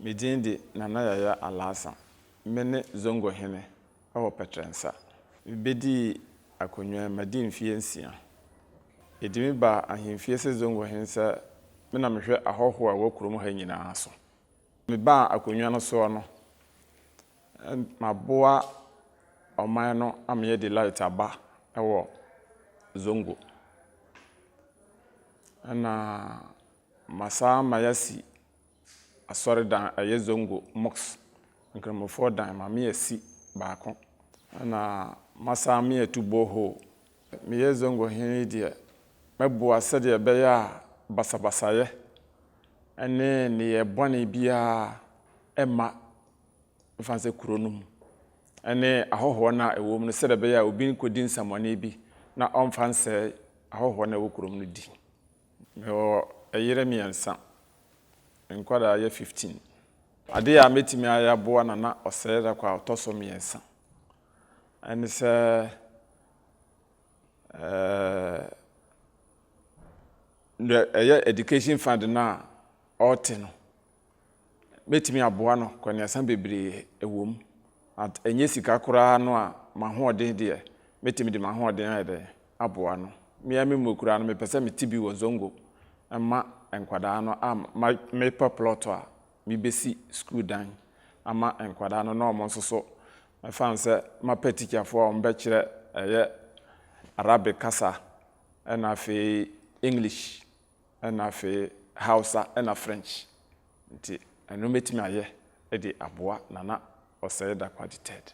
Me din de Nana Yaya Alaasa. Me ne Zongo hene wɔ Pɛtrɛnsa. Me bɛdii akonnwa yi madi mfeɛ nsia. Yɛdi me baa ahemfie sɛ Zongo hene sɛ me na mehwɛ ahɔhoɔ a ɛwɔ kurom ha nyinaa so. Me baa akonnwa no soɔ no, maboa ɔman no ama yɛadi light aba wɔ Zongo. Ɛna masan ama yɛasi asɔredan a ɛyɛ Zongo Mosque Nkramofoɔ dan, mame asi baako na masan me atu borehole. Meyɛ Zongo hene yi deɛ, mɛboa sɛdeɛ ɛbɛyɛ a basabasayɛ ne nneyɛɛ bɔne biara remma mfa nsɛ kuro no mu ne ahɔhoɔ no a ɛwɔ mu no sɛdeɛ ɛbɛyɛ a obi nkɔdi nsɛmmɔne bi na ɔmfa nsɛe ahɔhoɔ no a ɛwɔ kurom no din. Mewɔ ɛyere mmiɛnsa, nkwadaa yɛ fifteen. Adeɛ a mɛtumi ayɛ aboa Nana Ɔsɛe-Darko a ɔtɔ so mmiɛnsa ɛne sɛ ɛɛ deɛ ɛyɛ education fund no a ɔrete no, mɛtumi aboa no kɔneasa bebree wɔ mu but ɛnyɛ sika koraa no a m'ahoɔden deɛ mɛtumi de m'ahoɔden ayɛ dɛn aboa no me ara me mmɔ koraa no mepɛ sɛ mete bi wɔ zongo ma nkwadaa no a mepɛ plot a mebɛsi school dan ama nkwadaa no na wɔn nso so mɛfa no sɛ mapɛ tikyafoɔ a wɔbɛkyerɛ ɛyɛ Arabic kasa ɛna afei English. ɛna afei Hausa ɛna French nti ɛno mɛtumi ayɛ de aboa Nana Osei Dakwagye Ted.